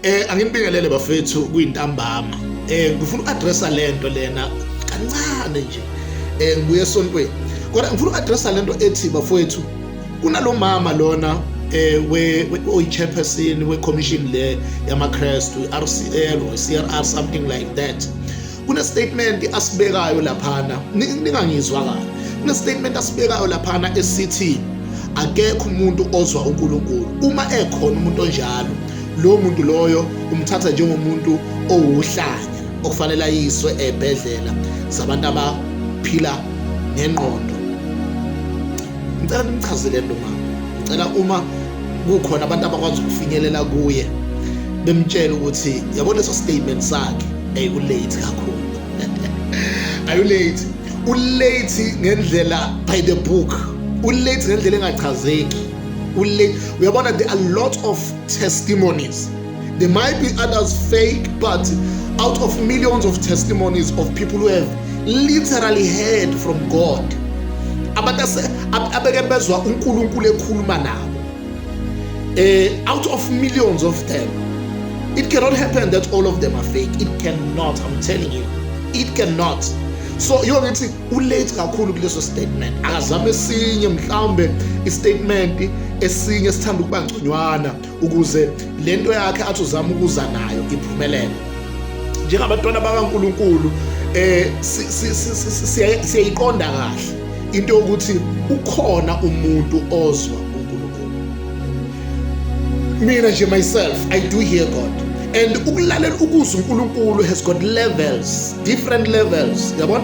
Eh anginibingelele bafethu kuyintambama. Eh ngifuna uaddressa lento lena kancane nje. Eh ngibuye esontweni. Kodwa ngifuna uaddressa lento ethi bafethu kunalomama lona eh we oyichairperson we commission le yamaKristu RCL or CRR something like that. kunestatement asibekayo laphana ningangizwa kahle kunestatement asibekayo laphana esithi akekho umuntu ozwa uNkulunkulu uma ekhona umuntu onjalo lo muntu loyo umthatha njengomuntu owuhlanya okufanele ayiswe ebhedlela zabantu abaphila ngengqondo ngicela nimchazele lo mama ngicela uma kukhona abantu abakwazi ukufinyelela kuye bemtshela ukuthi yabona leso statement sakhe hey ulate kakhulu ayulate ulate ngendlela by the book ulate ngendlela engachazeki uyabona there are lot of testimonies There might be others fake, but out of millions of testimonies of people who have literally heard from God, abantu abeke bezwa uNkulunkulu ekhuluma nabo. Eh out of millions of them. It cannot happen that all of them are fake. It cannot, I'm telling you. It cannot. so yiyo ngithi ulate kakhulu kuleso statement akazame esinye mhlawumbe istatement esinye sithanda ukuba ngconywana ukuze le nto yakhe athi uzama ukuza nayo iphumelele njengabantwana bakaNkuluNkulu eh siyayiqonda kahle into yokuthi ukhona umuntu ozwa uNkulunkulu mina nje myself i do hear god and ukulalela ukuzwa uNkulunkulu has got levels different levels yabona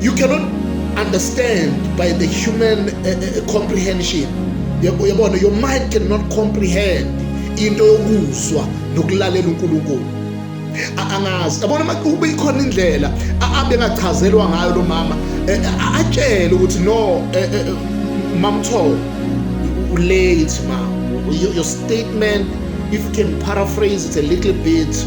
you cannot understand by the human uh, uh, comprehension yabona your mind cannot comprehend into yokuzwa nokulalela uNkulunkulu angazi yabona uma kube ikhona indlela abengachazelwa ngayo lo mama eh, eh, atshele ukuthi no eh, mamtho ulate ma your statement if you can paraphrase it a little bit